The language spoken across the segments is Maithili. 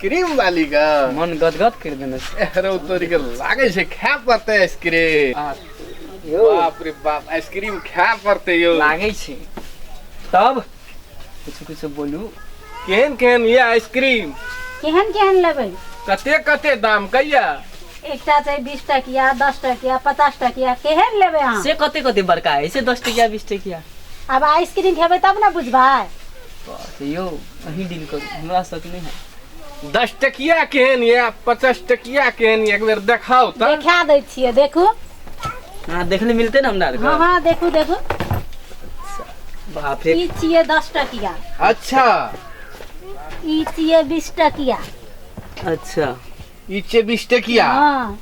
क्रीम वाली का मन गदगद कर देने अरे वो तोरी के लागे से खा पड़ते आइसक्रीम बाप रे बाप आइसक्रीम खा पड़ते यो लागे छे तब कुछ कुछ बोलू केहन केहन ये आइसक्रीम केहन केहन लेबै कते कते दाम कहिया एकटा छै बीस टकिया दस टकिया पचास टकिया केहन लेबै अहाँ से कते कते बड़का है से दस टकिया बीस टकिया आब आइसक्रीम खेबै तब ने बुझबै यौ अहीं डील करू हमरा सक नहि है दस टकिया केहन यऽ पचास टकिया केहन यऽ एक बेर देखाउ तऽ देखा दै छियै देखू हाँ देखने मिलते ना हमरा हाँ हाँ देखू देखू बाप रे ई छियै दस टकिया अच्छा ई छियै बीस टकिया अच्छा इचे बीस टकिया हाँ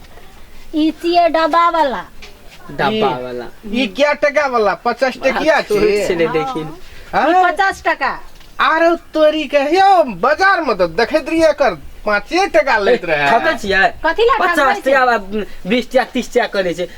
ई छियै डब्बा वाला डब्बा वाला ई क्या टका वाला पचास टकिया सोच छे ले देखिन ई हाँ? पचास टका आरो तोरी के यो बाजार में तो देखैत रहिए कर पाँचे टका लैत रहे खपे छियै कथी लए पचास खपबै छै? टका बीस टका तीस टका करै छै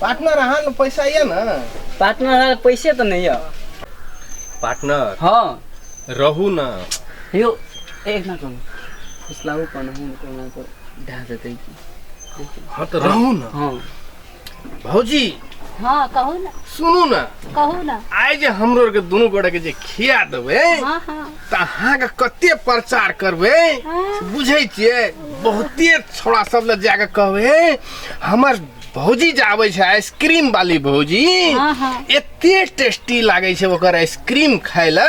पार्टनर अहाँ लग पैसा यऽ ने पार्टनर हमरा लग पैसे तऽ नहि यऽ पार्टनर हँ रहू ने यौ एक ना करू फुसलाबू कोना हम कोना कऽ ढा देतै की हँ तऽ रहू ने हँ भौजी हँ कहू ने सुनू ने कहू ने आइ जे हमरो आरके दुनू गोटे के जे खिया देबै हँ हँ तऽ अहाँके कते प्रचार करबै हँ। बुझै छियै बहुते छोड़ा सब लग जाके कहबै हमर भौजी जे आबै छै आइसक्रीम वाली भौजी हाँ, हाँ। एते टेस्टी लागै छै ओकर आइसक्रीम खाय ल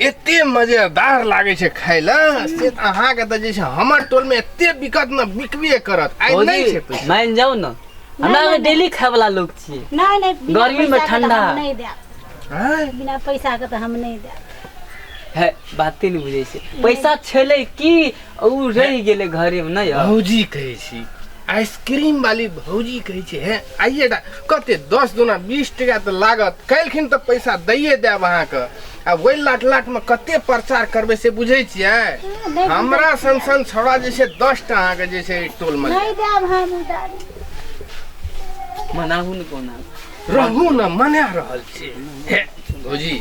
एते मजेदार लागै छै खाय ल से त अहाँके त जे छै हमर टोलमे एते बिकत न बिकबे करत आइ नहि छै भौजी पैसा मान जाओ ना हमरा नहीं, में नहीं। डेली खाए वाला लोग छिए नहीं नहीं बिना गर्मी में पैसा के तो ठंडा। हम नहीं देब आँय? बिना पैसा के तो हम नहीं देब है बाते नहीं बुझे से पैसा छेले की ओ रहि गेलै घरेमे नहि यौ भौजी कहै छी आइसक्रीम वाली भौजी कहै छै हे आइए टा कते दस दुना बीस टका तऽ लागत काल्हिखिन तऽ पैसा दैए देब अहाँके आ ओहि लाट लाटमे कते प्रचार करबै से बुझै छियै नहि हमरा सन सन छौड़ा जे छै दस टा अहाँके जे छै टोलमे नहि देब हम उधारी मनाहू ने कोना रहू ने मना रहल छी हे भौजी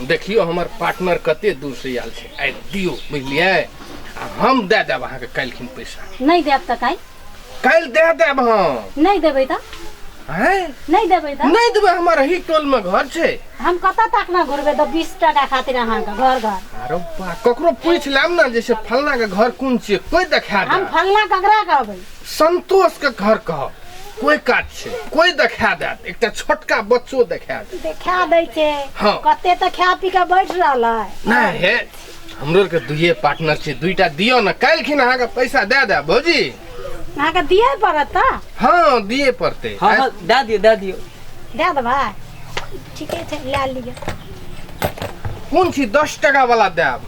देखियो हमर पार्टनर कते दूर से आयल छै आबि दियो बुझलियै आ हम दए देब अहाँके काल्हिखिन पैसा नहीं देब तऽ काल्हि काल्हि दए देब हम नहीं देबै तऽ हैं नहीं देबै तऽ नहि देबै हमर ही टोल मे घर छै हम कतऽ तक ने घुरबै तऽ बीस टाका खातिर अहाँके घर घर अरे बा ककरो पूछि लेब ने जैसे फलना के घर कोन छियै कोई देखा हम देब फलना ककरा कहबै संतोष के घर कहब कोई काज छै कोई देखा देत एकटा छोटका बच्चो देखा देत देखा दै छै हाँ। कते तऽ खा पी के बैठ रहल है नहि हे हमरो के दुइये पार्टनर छै दुइटा दियो ने काल्हिखिन अहाँके पैसा दए दए भौजी अहाँके दिए पड़त तऽ हँ दिए पड़तै हाँ हाँ दे दियो दे दियो दए देबै ठीके छै लए लिअ कोन छी दस टका वाला देब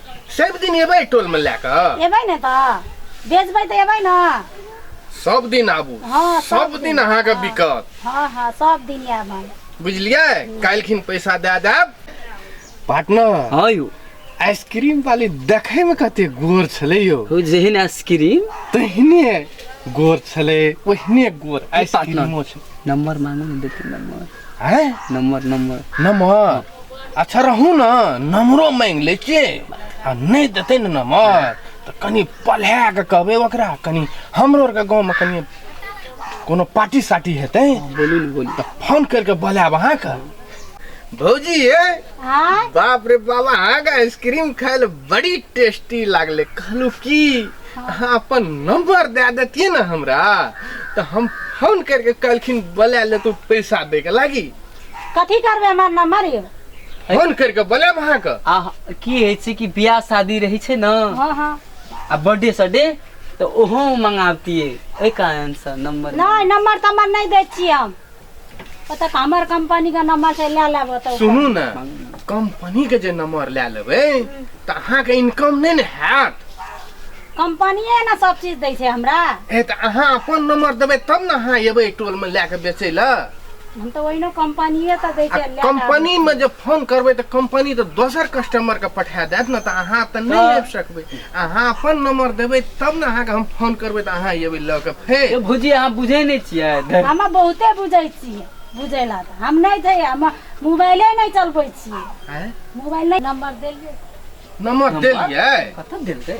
सब दिन एबै टोलमे लए कऽ एबै ने तऽ बेचबै तऽ एबै ने सब दिन आबू हँ, सब सब दिन दिन, अहाँके हँ। बिकत हँ हँ सब दिन आएब हम बुझलियै काल्हिखिन पैसा दए देब पार्टनर हँ यौ आइसक्रीम वाली देखै मे कते गोर छलै यौ हो जेहन आइसक्रीम तहिने गोर छलै ओहिने गोर आइसक्रीमो छै नंबर मांगू ने देते नंबर हैं नंबर नंबर नंबर अच्छा रहू ना नंबरो मांगि लै छियै आ नहि देतै ने नंबर तऽ कनि पढ़ा कऽ कहबै ओकरा कनि हमरो आरके गाँवमे कनि कोनो पार्टी सार्टी हेतै बोलू ने बोलू तऽ फोन करि कऽ बोलायब अहाँके भौजी हे हाँ बाप रे बाबा अहाँके आइसक्रीम खाय ले बड़ी टेस्टी लागले कहलू की अहाँ अपन नंबर दए देतियै ने हमरा तऽ हम फोन करके कहलखिन बोला लेतौ पैसा दैके लागी कथी करबै हमर नम्बर यौ फोन करके बोलायब अहाँके आ की होइ छै कि बियाह शादी रहै छै ने हँ हँ आ बर्थडे सडे तऽ ओहो मंगाबतियै ओहि कारण से नंबर नहि नम्बर तम्बर नहि दै छियै हम ओतऽ हमर कंपनी के नंबर से ले लेब ओतऽ सुनू ने कंपनी के जे नंबर लए लेबै तऽ अहाँके इनकम नहि ने हैत कंपनिये ने सब चीज दै छै हमरा ए तऽ अहाँ अपन नंबर देबै तब ने अहाँ एबै टोलमे लए कऽ बेचै लए हम तऽ ओहिनो कंपनिये तऽ दै आ छै ले लेब। कंपनीमे जे फोन करबै तऽ कंपनी तऽ दोसर कस्टमरके पठा देत ने तऽ अहाँ तऽ नहि तऽ- आबि सकबै अहाँ अपन नंबर देबै तब ने अहाँके हम फोन करबै तऽ अहाँ अयबै लऽ कऽ फेर ए भौजी अहाँ बुझै नहि छियै धर- हम बहुते बुझै छियै बुझै ला तऽ हम नहि छै हम मोबाइले नहि चलबै छियै आँय? मोबाइल नहि नंबर देलियै नंबर देलियै कतऽ देलकै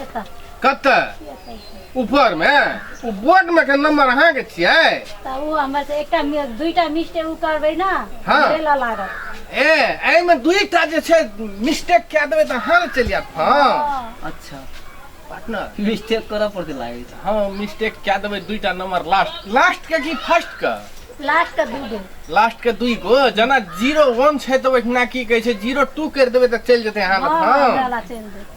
एतऽ कतऽ एतऽ ऊपर में उ बोर्ड में के नंबर अहाँ के छिए तऽ ओ हमर से एकटा मि- दुइटा मिस्टेक ओ करबै ने हँ। हमरे लऽ लागत ए एहि में दुईटा जे छै मिस्टेक कए देबै तऽ अहाँ लग चलि जायत फोन हँ। अच्छा पार्टनर मिस्टेक करऽ पड़तै लागै छै हँ मिस्टेक कए देबै दुईटा नंबर लास्ट लास्ट के की फर्स्ट के लास्ट के दू गो लास्ट के दुई गो जेना जीरो वन छै तऽ ओहिना की कहै छै जीरो टू करि देबै तऽ चलि जेतै अहाँ लग हमरा फोन लऽ चलि देत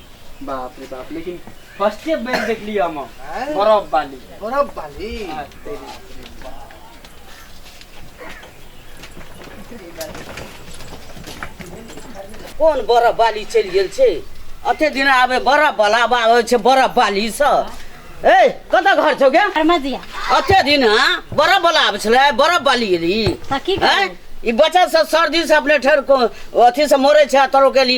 बाप रे बाप लेकिन फर्स्टे बेर देखली हम हैं? बरफ वाली बर्फ वाली आ, तेरी। कोन बरफ बाली चलि गेल छै अते दिन आबे बरफ बला आबै छै बरफ बाली स ए कतऽ घर छौ गे अरमदिया अते दिन हँ बरफ बला आबै छलै बरफ बाली एली तऽ की हैं? करबै ई बच्चा सब सर्दी से अपने ठहर को अथी से मरे छै तरो के ली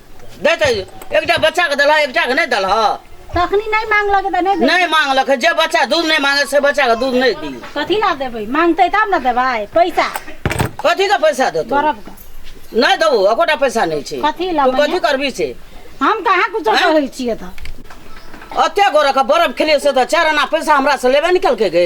देतै एकटा बच्चाके देलह एकटाके नहि देलह तखनी नहि मांगलक तऽ नहि देबै नहि मांगलक है, जे बच्चा दूध नहि मांगे से बच्चाके दूध नहि दी कथी ला देबै मांगतै तब ने देबै पैसा कथी के पैसा देतौ गरब के नहि देबो एकोटा पैसा नहि छै कथी ला तू कथी मैया? करबी से हम कहाँ कुछो आँय? कहै छियै तऽ एते गोरक बरफ खेलियै से तऽ चारि आना पैसा हमरा से लेबे निकल के गे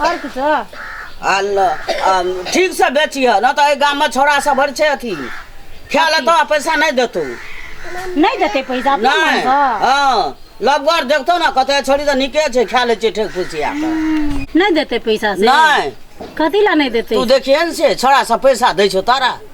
आओर किछो आ ल- आ ठीक से बेचिह न तऽ एहि गाममे छोड़ा सब भरि छै अथी खाय लए तऽ पैसा नहि देतौ नहि देतै पैसा अपना मन नहि कऽ हँ लबगर देखतौ ने कतऽ छोड़ी तऽ नीके छै खाय लै छै ठेक फुसिया कऽ नहि देतै पैसा से नहि कथी लए नहि देतै तू देखिहे ने से छोड़ा सब पैसा दै छौ तारा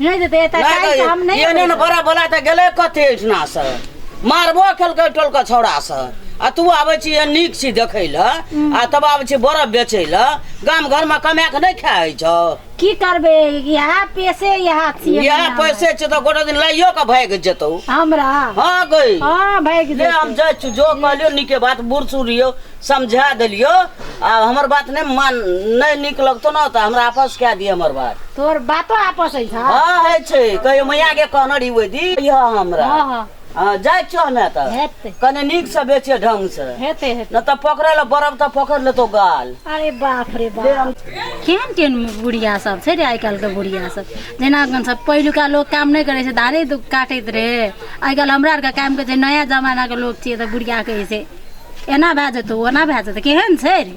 नहि देतै एतऽ नहि काल्हि तऽ हम कहियै, नहि एहने ने अबै। बड़ा बोला तऽ गेलै कथी एहिठिना से मारबो केलकै टोलके छौड़ा से आ तू आबै छी एहन नीक छी देखै लए आ तब आबै छी बरफ बेचै लए गाम घरमे कमाए कऽ नहि खाए होइ छौ की करबै इएह पेशे इएह छियै इएह हमरा। पैसे छै तऽ गोटे दिन लाइयो कऽ भागि जेतौ हमरा हँ गई हाँ भागि ले हम जेतै। जाइ छी जो कहलियो नीके बात बूढ़ सूढ़ यौ समझा देलियो आब हमर बात नहि मान नहि नीक लगतो ने तऽ हमरा आपस कए दिअ हमर बात तोहर बातो आपस होइ छौ हँ होइ छै कहियो मैया के कहने रही ओहि दिन कहियो हमरा हँ हँ हँ जाइ छियो हमे तऽ हेतै। कने नीक से बेचे ढंग से हेतै हेतै नहि तऽ पकड़े लए बरब तऽ पकड़ लेतो गाल अरे बाप रे बाप केहन केहन बुढ़िया सब छै रे आइ काल्हिके बुढ़िया सब जेना अपन सब पहिलुका लोक काम नहि करै छै धारे दु- काटैत रहै आइ काल्हि हमरा आरके काम करै छै नया जमानाके लोक छियै तऽ बुढ़िया कहै छै एना भए जेतौ ओना भए जेतौ केहन छै रे